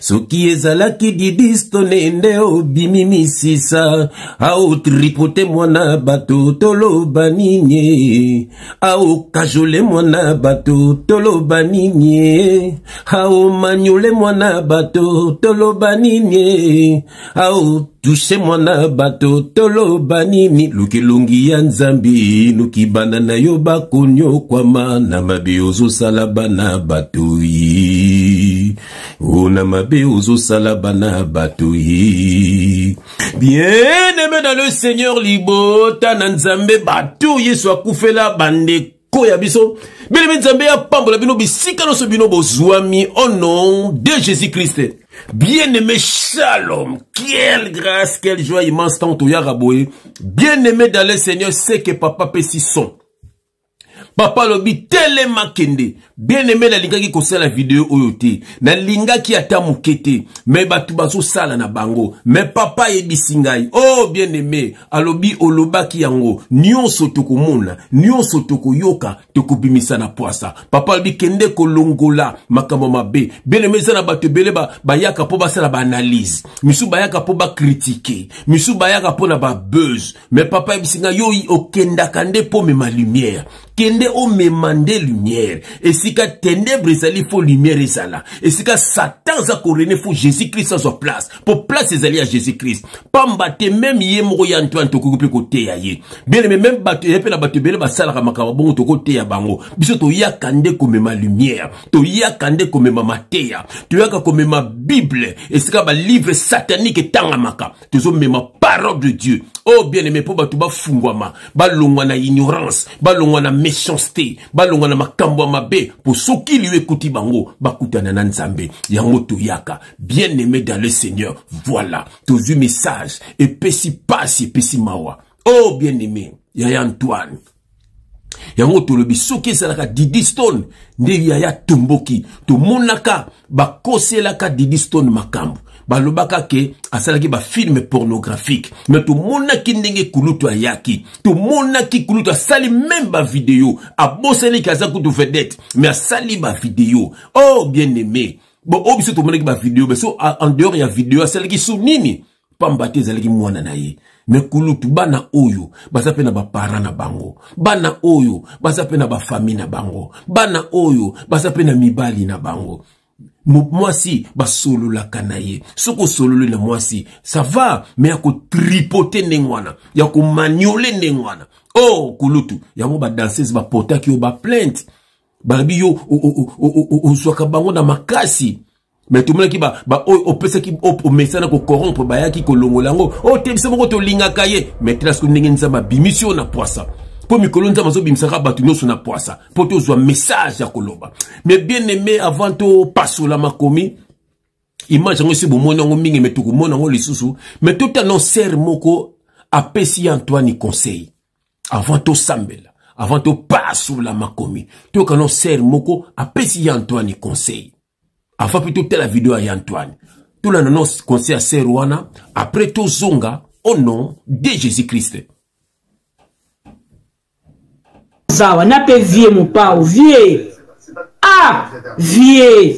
soki ezalaki didistone nde obimi misisa aotripote mwana bato toloba nini aokajole mwana bato toloba nini aomanyole mwana bato toloba nini ao tushe mwana bato toloba nini lukilungi ya nzambi luki bana na yo bakonyokwama na mabe ozosala bana bato yi ona mabe ozosala bana bato ye bien aime dans le seigneur libota na nzambe bato yesu akufela bandeko ya biso belemi nzambe apambola bino bisika nyonso bino bozwami au nom de jésus christ Bien-aimé Shalom, quelle grâce, quelle joie immense tant au Yaraboé. Bien-aimé dans le Seigneur, c'est que papa Pessi son. papa alobi telema kende bien aime nalingaki kosala video oyo te nalingaki ata moke te me bato bazosala na bango me papa ayebisi ngai o oh, bien aime alobi olobaki yango nyonso tokomona nyonso tokoyoka tokobimisa na pwasa papa alobi kende kolongola makambo mabe bien aime eza na bato ebele bayaka mpo basala baanalyse misusu bayaka mpo bakritike misusu bayaka mpo na babuse me papa yebisi ngai yo okendaka nde mpo omema lumière kende omema nde lumière esika tenebre ezali fo lumière ezala esika satan aza korene fo jésus krist azwa place mpo place ezali ya jésus krist pamba te meme ye moko ya antoine tokoki mpe koteya ye bieleme meme bato ye mpe na bato ebele basalaka makambo bongo tokoteya bango biso toyaka nde komema lumière toyaka nde komema mateya toyaka komema bible esika balivre satanique etangamaka tozomema parole de dieu oyo oh, bien aime mpo bato bafungwama balongwa na ignorance balongwa na méchanceté balongwa na makambo ya mabe mpo soki liyo ekuti bango bakutana na nzambe yango toyaka bien aime dans le seigneur voilà tozwi message epesi mpasi epesi mawa oyo oh, bien aime yaya antoine yango tolobi soki ezalaka didi stone nde yaya tomboki tomonaka bakoselaka didi stone makambo balobaka ke asalaki bafilme pornographique me tomonaki ndenge kulutu ayaki tomonaki kulutu asali meme bavideo abosani ke aza kutu vedette me asali bavideo oh bien aime bon oyo biso tomonaki bavideo biso en dehors ya video asalaki su nini pamba te ezalaki mwana na ye me kulutu bana oyo baza mpe na bapara na bango bana oyo baza mpe na bafami na bango bana oyo baza mpe na mibali na bango mwasi basololaka na ye soki osololi na mwasi sava me ya kotripote ndenge wana ya komaniole ndenge wana o oh, kulutu yango badansese bapotaki yo baplainte balobi yo ozwaka bango na makasi mais tomonaki baoyo opesaki omesana kocorrompre bayaki kolongola yango oyo oh, te biso moko tolingaka ye mais tela soki ndenge nzambe abimisi oyo na pwasa mpo mikolo nzambe azobimisaka bato nyonso na pwasa mpo tozwa message ya koloba mais bien aimé avant topasola makomi image yango esi bomoni yango mingi me tokomona yango lisusu me totano sere moko apesi ye antoine conseil avant tosambela avant topasola makomi toyokano sere moko apesi ye antoine conseil Avant mpe totala video ya Antoine. Tolanda no conseil ya sœur wana, après tozonga au nom de Jésus-Christ. Zawa na pe vie mopao, vie. Ah, vie.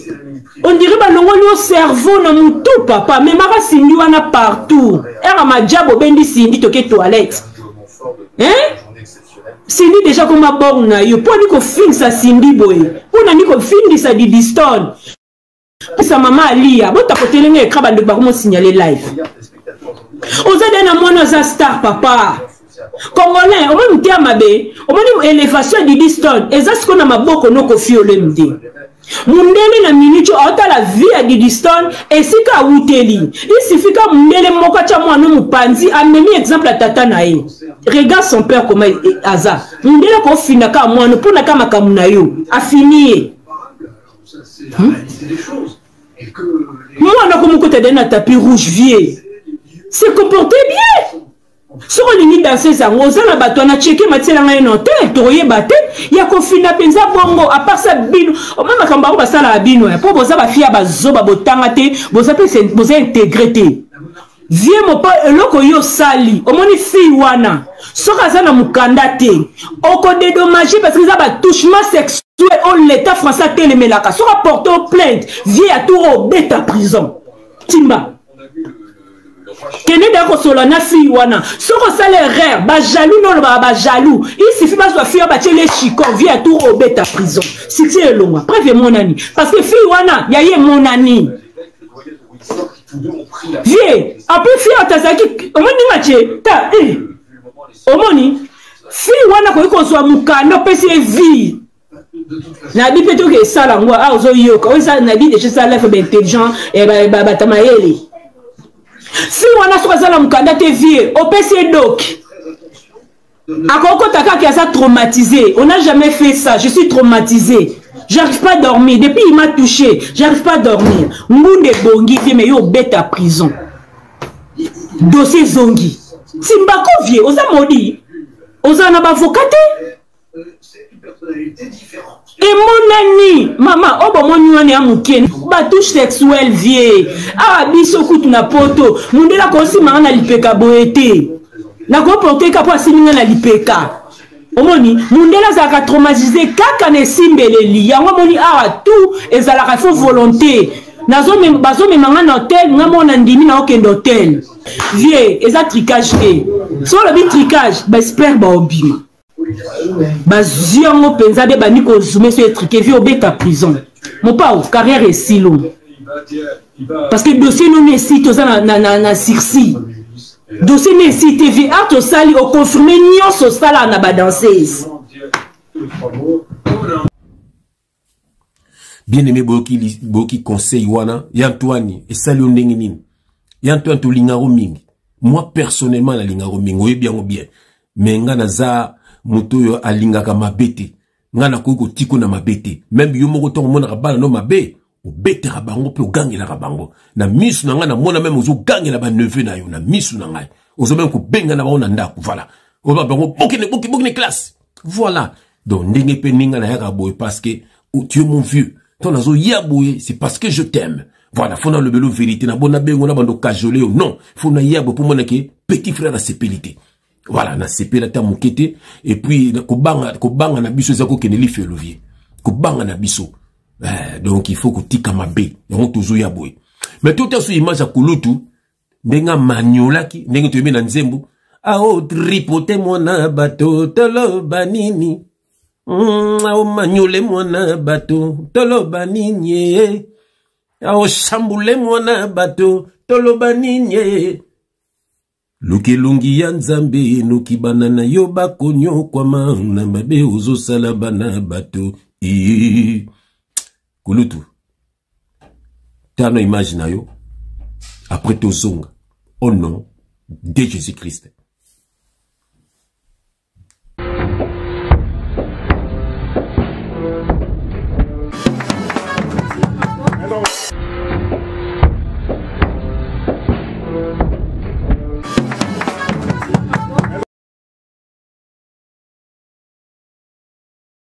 On dirait balongoli yo cerveau na mutu papa, memaka Cindy wana partout. Era majabu obendi Cindy toke toilette. Hein? Cindy deja koma bor na yo mpo ani kofingisa Cindy boye mpo nani kofingisa didistone pesa mama aliya botakotele nga ekra bandeko bakomosignale live oza de na mwana aza star papa congolais omoni moteya mabe omoni elevation ya didistone eza sikoyo na maboko nokofiolemi te mundele na minute oyo aotala vie ya didiston esika awuteli isifika mundele moko atya mwana mopanzi amemi exemple ya tata na ye regarde son père koma e, e, aza mundele kofina kaka mwana mpo na ka makambo na yo afini ye hmm? mwana komokota dani na tapis rouge vie se comporte bien soki olingi danseuse yango oza na bato wana cheke matiela ngai no te tokoyeba te ya kofina mpenza bongo aparsa bino oma makambo yango basalaka bino eh, mpo boza bafi ya bazoba botanga te boza mpe boza integre te vie mopo eloko yo osali omoni fille wana soki aza na mokanda te okodedommage parce que eza batouchement sexuel oyo leta français atelemelaka soki aporte o plainte vie ya tour obeta prison timba kende da kosola na fille wana soki osala erreur bajaloux nde olobaka bajaloux isifi bazwa fille oyo batyeli echiko vie ya tour obeta prison succès elongwa preuve emonani parce que fille wana ya ye emonani vie apres fille oyo tazalaki omoni ndenge atye ta omoni fille wana akoki kozwa mokanda opesi ye vie nabi mpe toke esala yango awa ozoyoka oyo esala nabi deja esala life baintelligent bata mayele si wana soki aza na mokanda te vie opesi ye doki akokota kaka aza traumatisé on a jamais fait ça je suis traumatisé j'arrive pas à dormir depuis il m'a touché j'arrive pas à dormir ngunde ebongi vie mais yo obeta prison dossier ezongi simbako vie oza modi oza na bavoka te emonani mama oyo bomoni wana ya moke batouche sexuel vie awa biso kutu na poto mondele akosimanga na lipeka boye te nakoporteka mpo asimbi nga na lipeka omoni mondele azalaka traumatise kaka na esimbeleli yango omoni awa tout ezalaka fo volonté bazomema nga na hotel nga moko na ndimi na okende hotel vie eza tricage te so olobi tricage baespere baobima bazwi yango mpenza nde bandi kozume so etrike vi obeta prison mopao carrière esilo parce que dossier nono esi toza na, na, na, na sursis dossier no esi te vi art osali oconfirme nyonso osalaka na badanseuse bien aimé boyoki, boyoki conseil wana ya antoine esali yo ndenge nini ya antoine tolingako mingi moi personnellement nalingako mingi oyebi yango bien me nga naza moto oyo alingaka mabe te nga nakoki kotiko na mabe te meme yo moko ntango omonaka bana no mabe obetaka bango mpe ogangelaka bango na misu na ngai namona meme ozogangela baneve na yo na misu na ngai ozo meme kobenga na bango na ndako voilà oba bango bokende bokende classe voilà donc ndenge mpe ninga nayaka boye parce que oh, tu es mon vieux to nazoya boye c'est parce que je t'aime voilà fo nalobelo vérité na bo nabengo na bando kajole yo non fo naya boye mpo mona ke petit frère asepeli te voilà nasepeli ata moke te epuis kobanga, kobanga na biso eza kokende lifelo vie kobanga na biso eh, donc il faut kotika mabe yango tozoya boye mais totaso image ya kulutu ndenge amaniolaki ndenge toyebi na nzembo aotripote mwana bato toloba nini mm, aomaniole mwana bato toloba nini eh. aosambule mwana bato toloba nini eh. luka elongi ya nzambe enoki bana na yo bakonyokwama na mabe ozosala bana bato ii kulutu tana image na yo après tozonga au oh nom de jésus christ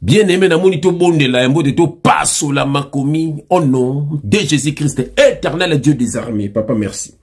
bien aime namoni tobondela ya mbote topasola makomi o oh nom de jésus christ éternel dieu des armées papa merci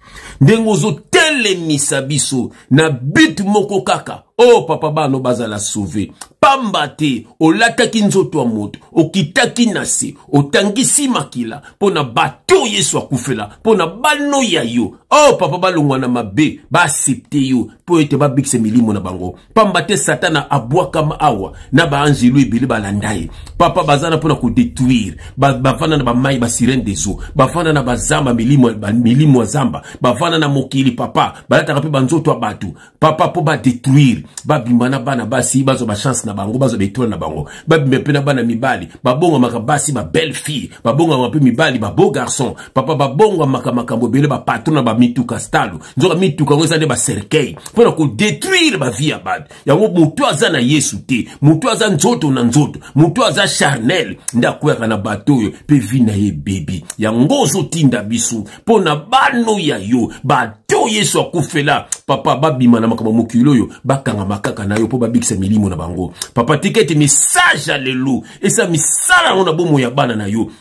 ndenge ozotelemisa biso na bit moko kaka o oh, papa bano bazala sauve pamba te olataki nzoto ya moto okitaki na se otangisi makila mpo na bato oyo yesu akufela mpo na bano ya yo o oh, papa balongwa na mabe baasepte yo mpo ete babikisa milimo na bango pamba te satana abwakama awa na baanzelu ebele balanda ye papa baza na mpo na kodetruire bavanda ba na bamai basirene des eaux bavanda na bazamba milimo, milimo ya zamba bavanda na mokili papa balataka mpe banzoto ya bato papa mpo badetruire babima na bana basi bazwa bachance na bango bazwa baetoile na bango babima mpe na bana mibali babongamaka basi babelle fille babongamaka mpe mibali babeau garçon papa babongamaka makambo ebele bapatro na bamituka stalo nzoka mituka yango eza nde bacercueil mpo na kodetruire bavie ya bato yango moto oyo aza na yesu te moto oyo aza nzoto na nzoto moto oyo aza charnel nde akweyaka na bato oyo mpe vi na ye ebebi yango ozotinda biso mpo na bano ya yo bato oyo yesu akufela papa babima na makambo mokili oyo bakangama kaka na yo mpo babikisa milimo na bango papa tika ete message ya lelo esala misala yango na bomoi ya bana na yo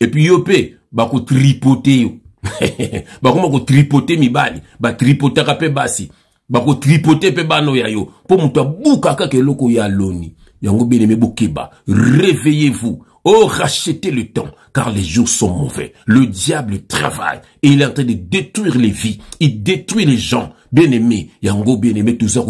epuis yo mpe bakotripote yo bakoma kotripote mibali batripotaka mpe basi bakotripote mpe bana oyo ya yo mpo moto abuka kaka eloko ya loni yango beleme bokeba réveillez vous Oh, rachetez le temps, car les jours sont mauvais. Le diable travaille et il est en train de détruire les vies. Il détruit les gens. Bien-aimé, yango bien-aimé, tout ça,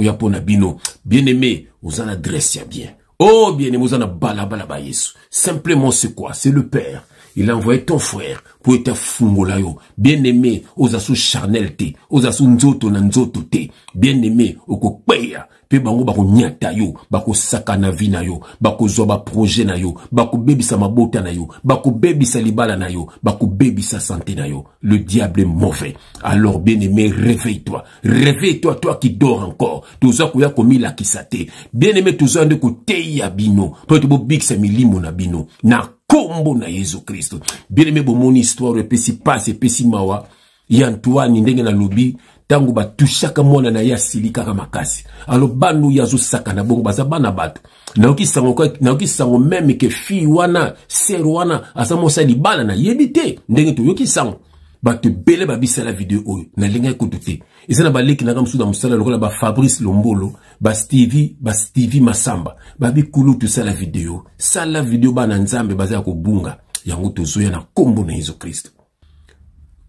bino. Bien-aimé, aux adresses, bien. Oh bien aimé, na balabala ba Yesu. Simplement c'est quoi C'est le Père. Il a envoyé ton frère pour être fungola yo. Bien aimé, aux asso charnel te, aux asso nzoto na nzoto te. Bien aimé, oko peya. Pe bango bako nyata yo, bako saka na vie na yo, bako zwa ba projet na yo, bako bebisa mabota na yo, bako bebisa libala na yo, bako bebisa santé na yo. Le diable est mauvais. Alors bien aimé, réveille-toi. Réveille toi toi qui dort encore. Toza koya komilakisa te. Bien aimé toza nde koteya bino. Po to bobikisa milimo na bino. Na kombo na Yesu Kristo. Bien aimé bomoni histoire epesi passe epesi mawa. Ya Antoine ndenge na lobi tango batushaka mwana na ye asilikaka makasi. Alors banu yazo sakana bongo baza bana bato. nayoki sango nayoki sango meme ke fille wana ser wana aza mosa libala nayebi te ndenge toyoki sango bato ebele babisala video oyo nalingaki kutu te eza na baleki nanga mosusu na mosala lokola bafabrice lombolo bastevi bastevi masamba babikulu tosala video sala video bana nzambe baza ya kobunga yango tozoya na nkombo na yesu kristo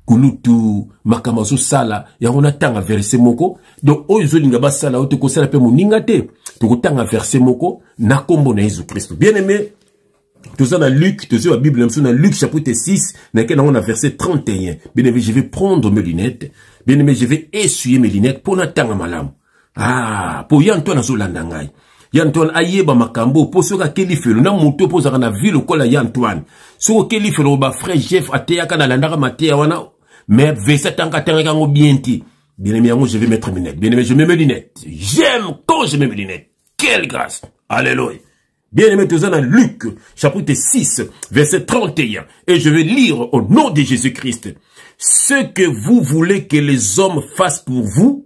kulutu makambo azosala yango natanga verse moko donc oyo ezolinga basala oyo tokosala mpe moninga te tokotanga verse moko na nkombo na yesu kristo bien aimé toza na luc tozwi ba bible na biso na luc chapitre 6 nake nango na verset 31 bien aimé je vais prendre mes lunettes bien aimé je vais essuyer mes lunettes mpo natanga malamu ah po ya antoine azolanda ngai ya antoine ayeba makambo po soki akeli felo na moto po ozalaka na vie lokola ya antoine soki okeli felo ba frère jeff ateyaka nalandaka mateya wana mais vesa tanga atangaki yango bien te bien aimé yango je vais mettre mes lunettes bien aimé je mets mes lunettes j'aime quand je mets mes lunettes quelle grâce alléluia Bien aimé, tu dans Luc, chapitre 6, verset 31. Et je vais lire au nom de Jésus-Christ. Ce que vous voulez que les hommes fassent pour vous,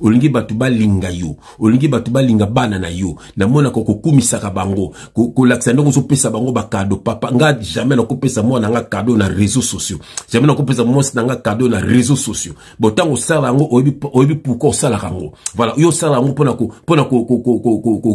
olingi bato balinga yo olingi bato balinga bana na yo namonaka kokumisaka bango kolakisa ndenge ozopesa bango bakado papa nga jamais nakopesa mwana nga kado na réseau sociaux jamais nakopesa mwasi na nga kado na réseau sociaux bo ntango osala yango oyebi pourkoi osalaka yango voilà yo osala yango mpona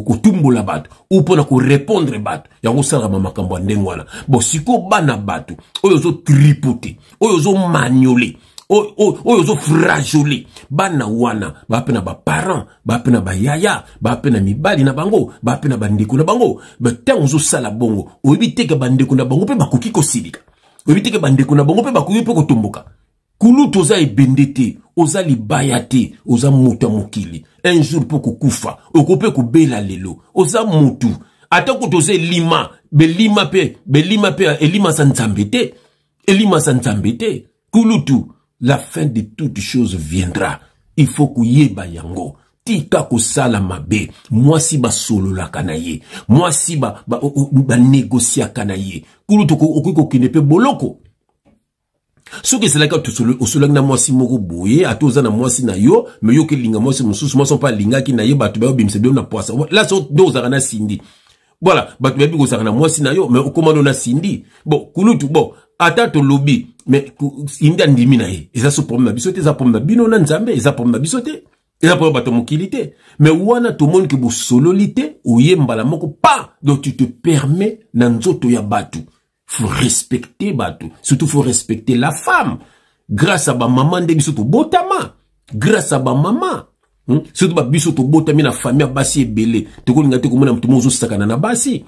kotumbola bato ou mpona korépondre bato yango osalaka makambo ya ndenge wana bo sikoyo bana bato oyo ozotripote oyo ozomaniole oyo ozo frajole bana wana baa mpe na baparent baa mpe na bayaya baa mpe na mibali na bango baa mpe na bandeko na bango ntango ozosala bongo oyebi teke bandeko na bango mpe bakoki kosilika oyebi teke bandeko na bango mpe bakoki mpe kotomboka kulutu oza ebende te oza libaya te oza moto ya mokili un jour mpo kokufa oko mpe kobela lelo oza motu ata kutu oza elima belima mpe belima mpe elima za nzambe te elima za nzambe te kulutu la fin de toute chose viendra il faut koyeba yango tika kosala mabe mwasi basololaka na ye mwasi banegosiaka na ye kulutu okoki kokende mpe boloko soki ezalaki osolaki na mwasi moko boye ata oza na mwasi na yo me yoki elinga mwasi mosusu mwasi mpe alingaki na ye bato bayobimisa bino na pwasa la nde ozalaka na sindi voilà bato bayebi kozalaka na mwasi na yo mais okoma no na sindi bon kulutu bon ata tolobi mais sindi andimi na ye eza so problème na biso te eza problème na bino na nzambe eza problème na biso te eza problème bato mokili te mais wana tomoni ke bosololi te oye mbala moko pa donc tu te permets na nzoto ya bato faut respecter bato surtout faut respecter la femme grâce à bamama nde biso tobotama grâce à bamama hmm? surtout babiso tobotami na famille ya basi ebele tokolinga te komona moto mo ozosakana na basi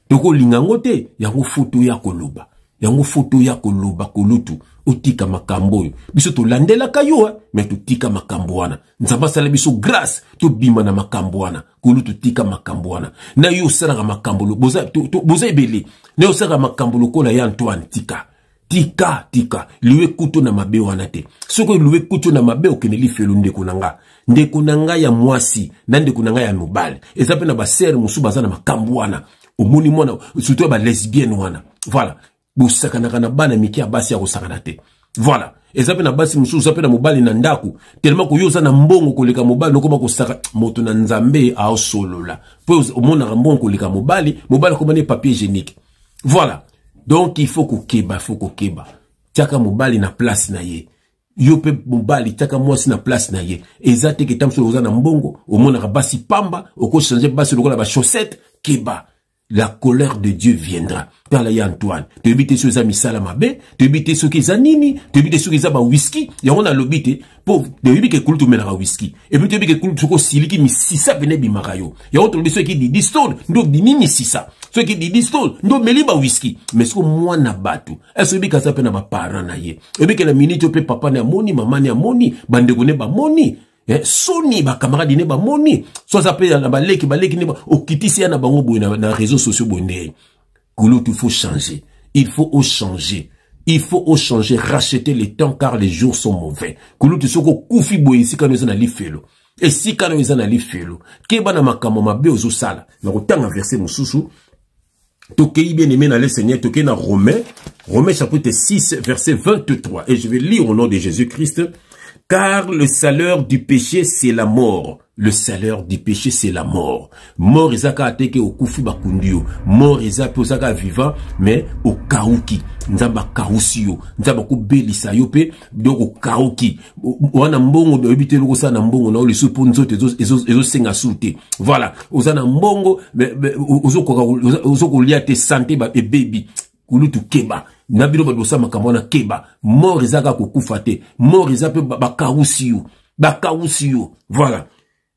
tokolinga yango te yango foto ya koloba yango foto ya koloba kolutu otika makambo oyo biso tolandelaka yo me totika makambo wana nzambe asala biso grâce tobima na makambo wana kulutu tika makambo wana na yo osalaka makambo boza, to, to, boza ebele na yo osalaka makambo lokola ya antoine tika tika tika liwe kutu na mabe wana te soki liwe kutu na mabe okende lifelo ndeko na nga ndeko na nga ya mwasi na ndeko na nga ya mobali eza mpe na basere mosusu baza na makambo wana omoni mwana surtout ya balesbienne wana voilà bosakanaka na bana mike ya basi ya kosakana te voilà eza mpe na basi mosusu oza mpe na mobali na ndako telema koyo oza na mbongo koleka mobali nokoma kosaka moto na nzambe aosolola mpo omonaka mbongo koleka mobali mobali akoma ne papier hygiénique voilà donc il faut kokeba il faut kokeba tiaka mobali na place na ye yo mpe mobali tiaka mwasi na place na ye eza te keta mosusu oza na mbongo omonaka basi pamba okochange basi lokola bachaussette keba la colère de dieu viendra tala ye antoine toyebi te soki eza misala mabe toyebi te soki eza nini toyebi te soki eza bawiski yango nalobi te mpo toyebi ke kulutu omelaka wiski epuis toyebi ke kulutu soki osiliki misisa pene ebimaka yo yango tolobi soki didi stone nde obimi misisa soki didi stone nde omeli bawiski mai soki mwana bato ese oyebi ke aza mpe na baparent na ye oyebi ke na miniti oyo mpe papa ne amoni mama ne amoni bandeko ne bamoni eh, soni bakamaradi ne bamoni so aza mpe na baleki baleki ne okitisi ya na bango boye na, na réseau sociaux boye ndeye kulutu faut changer il faut ochanger il faut ochanger racheter le temps car les jours sont mauvais kulutu soki okufi boye esika no eza na lifelo esika no eza na lifelo keba na makambo mabe ozosala na kotanga verse mosusu Tokeyi bien aimé dans le Seigneur, tokeyi na Romain, Romain chapitre 6 verset 23 et je vais lire au nom de Jésus-Christ car le salaire du péché c'est la mort. Le salaire du péché c'est la mort. Mort ezaka ateke okufi bakundi yo. Mort eza pe ozaka vivant mais okauki. Nzamba kausi yo. Nzamba ko belisa yo pe donc okauki. wana mbongo oyebi te eloko osala na mbongo na yo lisusu mpo nzoto ezosenga su te voilà oza na mbongo ozo kolia te sante ebebi kulutu keba na bino bato bosala makambo wana keba mort eza kaka kokufa te mort eza mpe bakawusi yo bakawusi yo voilà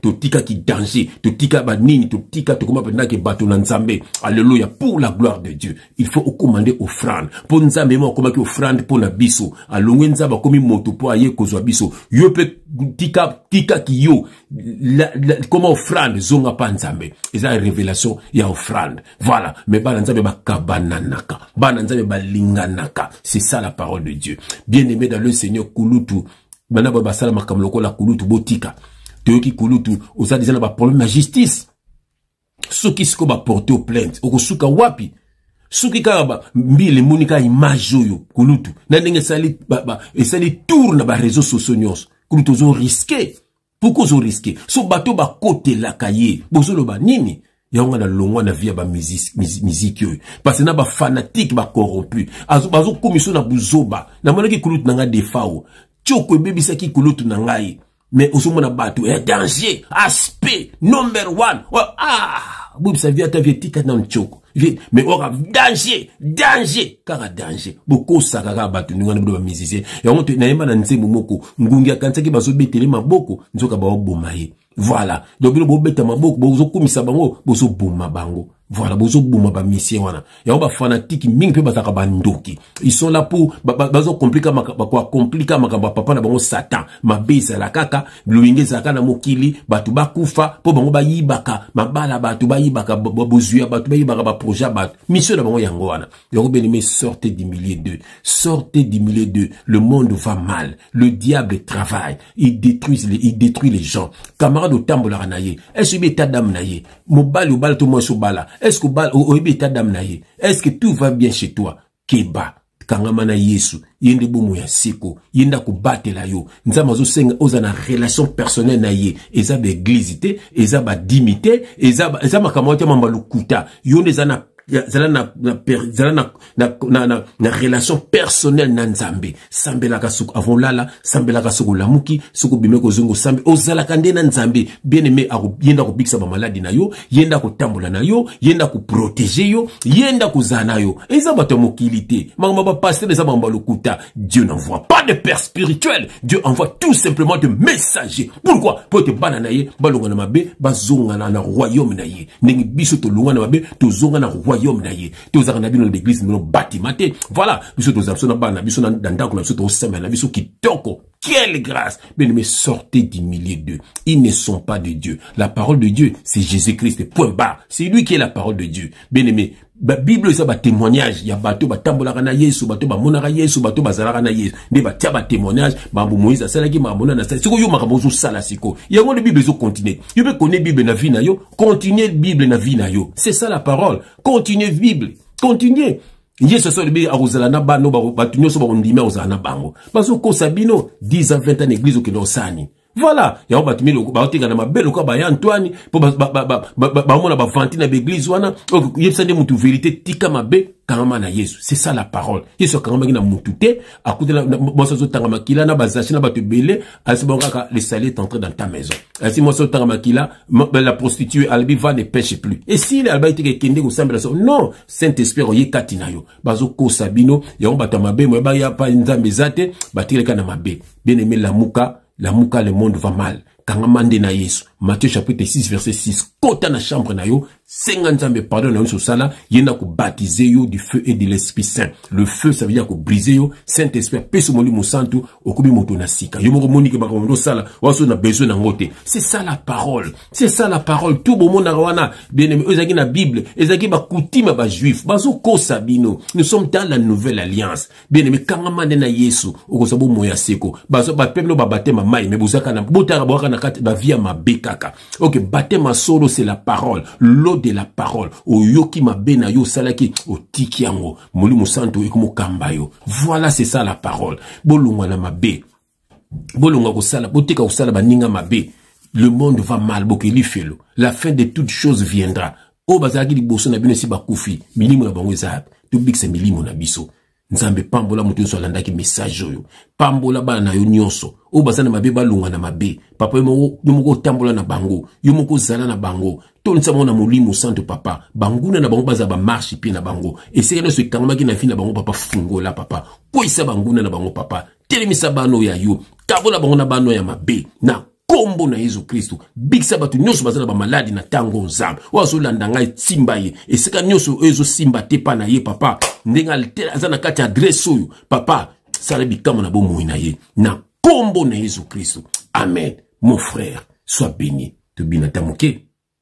totika ki danger totika banini totika tokoma mpenza ke bato na nzambe alleluya pour la gloire de dieu il faut okoma nde offrande mpo nzambe mo akomaki offrande mpo na biso alongwe nzambe akomi moto mpo aye kozwa biso yo mpe tika tika kiyo koma offrande zonga mpa nzambe eza révélation ya offrande voilà mais bana nzambe bakabananaka bana nzambe balinganaka c'est ça la parole de dieu bien aimé dans le seigneur kulutu bana ba basala makambo lokola kulutu botika toyoki kulutu oza deja na baproblème ya justice soki sikoyo baporte o plainte okosuka wapi soki kaka mbila emoni kaka image oyo kulutu na ndenge esali tour na bareseau sociaux nyonso kulutu ozo riske pourkoi ozo riske so bato bakotelaka ye bozoloba nini yango nga nalongwa na vie ya bamiziki oyo parce na bafanatike bacorrompu bazokomiso na buzoba namonaki kulutu na ngai defao tioko ebebisaki kulutu na ngai mais ozomona bato ya eh, danger aspect number one oh, ah bobisa vie ata vie etika nano tioko mais oyoka danger danger kaka danger bokosaka kaka bato ndenge wana bino bamizisie yango nayemba na nzembo moko ngungi akanisaki bazobetele maboko nzoka baoboma ye voilà donc bino bobeta maboko bozokumisa bango bozoboma bango voilà bozoboma bamisie wana yango bafanatike mingi mpe bazalaka bandoki ils sont là pour bazokomplika bakoakomplika makambo ya papa na bango satan mabe ezala kaka loyenge ezalaka na mokili bato bakufa mpo bango bayibaka mabala bato bayibaka bozwi ya bato bayibaka baprojet ya bato misio na bango yango wana yango benime sorte du milieu de sorte du milieu de le monde va mal le diable travaille il détruit les, il détruit les gens camarade otambolaka na ye est ce oyebi etat dame na ye mobali obala to mwasi obala est ce oyebi etat dame na ye est ce que tout va bien chez toi keba kangama na yesu ye nde bomo ya seko ye nde akobatela yo nzambe azosenga oza na relation personnel na ye eza baeglize te eza badimi te eza, eza makambo yake mamba lokuta yo nde eza na zala na, na, zala na, na, na, na, na relation personnelle na nzambe sambelaka soki avant olala sambelaka soki olamuki soki obimi kozonga osambe ozalaka nde na nzambe bien aime ye nde akobikisa bamaladi na yo ye nde akotambola na yo ye nde akoprotege yo ye nde akozala na yo eza bato ya mokili te makambo bapaster eza makambo ya lokuta dieu n'envoie pas de père spirituel dieu envoie tout simplement de messager pourquoi mpo ete bana na ye balonga na mabe bazongana na royaume na ye ndenge biso tolonga na mabe tozonga na royaume na ye tozalaka na bino na baeglise bino batima te voilà biso tozala biso na bana na biso na ndako na biso tokosemela na biso kitoko Quelle grâce Mais ne me sortez du milieu d'eux. Ils ne sont pas de Dieu. La parole de Dieu, c'est Jésus-Christ. Point barre. C'est lui qui est la parole de Dieu. Bien aimé, la Bible eza ba témoignage il y a bateau ba tambolaka na Yesu bateau ba monaka Yesu bateau ba zalaka na Yesu nde ba tia ba témoignage ba bu Moïse asala ki ma mona na sala siko yo makambo zo sala siko ya ngone Bible zo continuer yo be connais Bible na vie na yo continuer Bible na vie na yo c'est ça la parole continuer Bible continuer yesu asi alobi akozala na bano bato nyonso bakondimi akozala na bango bazokosa bino 10 ans 20 ans na eglize okende osala nini voilà yango bato mili baotekana mabe lokola baya antoine mpo baomona bavanti na baeglize wana yebisa nde motu verité tika mabe kangama na yesu c'est ça la parole yesu akangamaki na motu te akutela mwasi azotanga makila na bazashi na bato ebele alisi bango kaka le sali est entré dans ta maison alisi mwasi azotanga makila la prostitue alobi va ne pêche plus esili alobaki teke ekende kosambela so non saint esprit akoye kati na yo bazokosa bino yango bato ya mabe moye baya pa nzambe eza te batikali kaka na mabe bien aime lamuka lamuka le monde va mal kangama nde na yesu matthieu chapitre 6 verset 6 kota na chambre na yo senga nzambe pardon na yonso osala ye nde akobatize yo du feu et de l'esprit saint le feu ça veut dire akobrise yo saint esprit apesi molimo santu okomi moto na sika yo moko omonike makambo nde osala waso na besoin na yango te c'est ça la parole c'est ça la parole tout bomonaka wana bien-aimé oyo ezalaki na bible ezalaki bakutime ya bajuif bazokosa bino nous sommes dans la nouvelle alliance bien-aimé kangama nde na yesu okozwa bomoi ya seko bapembe no babatema mai me bozaka na botaka bwaka na kati bavie ya mabe kaka ok batema solo c'est la parole l'eau de la parole oyoki mabe na yo osalaki otiki yango molimo santu ekomokamba yo voilà c'est ça la parole bolongwa na mabe bolonga kosala botika kosala baninga mabe le monde va mal bokeli felo la fin de toute chose viendra oyo bazalaki liboso na bino esi bakufi milimo na bango eza yapi tobikisa milimo na biso nzambe pambola moto nyonso alandaki message oyo pambola bana na yo nyonso oyo baza na mabe balonga na mabe papa yo moko otambola na bango yo moko ozala na bango tondisa bango na molimo santo papa banguna na bango bazala bamarshe mpe na bango esika nyonso ekangamaki na vi na bango papa fungola papa kweyisa banguna na bango papa telemisa bano ya yo kabola bango na bano ya mabe na nkombo na yesu kristo bikisa bato nyonso baza na bamaladi na ntango nzambe oyo azolanda ngai esimba ye esika nyonso oyo ezosimba te epai na ye papa ndenge aza na kati ya adrese oyo papa sala bikamwa na bomoi na ye na nkombo na yesu kristo amen mon frère soit béni tobina ta moke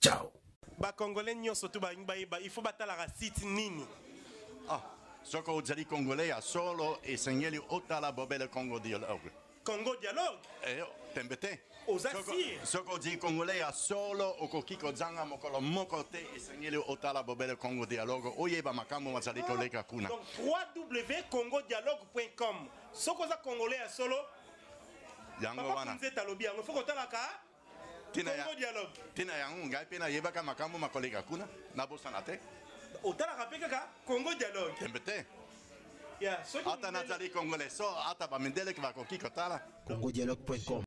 ciao ba congolais nyonso tu balingi bayeba il faut batalaka site nini ah, soki ozali congolais ya solo esengeli otala bobele congo dialogue congo dialogue eh, tembe te oza sire soki ozali congolais ya solo okoki kozanga mokolo moko te esengeli otala bobele congo dialogue oyeba makambo mazali koleka kuna donc www congo dialogue com soki oza congolais ya solo yango wana nzete alobi yango fo kotalaka te na yango ngai mpe nayebaka makambo makoleka kuna nabosana te otalaka mpe kaka congo dialogue tembe te ata nazali congolais so ata bamindele bakoki kotala congodialogue.com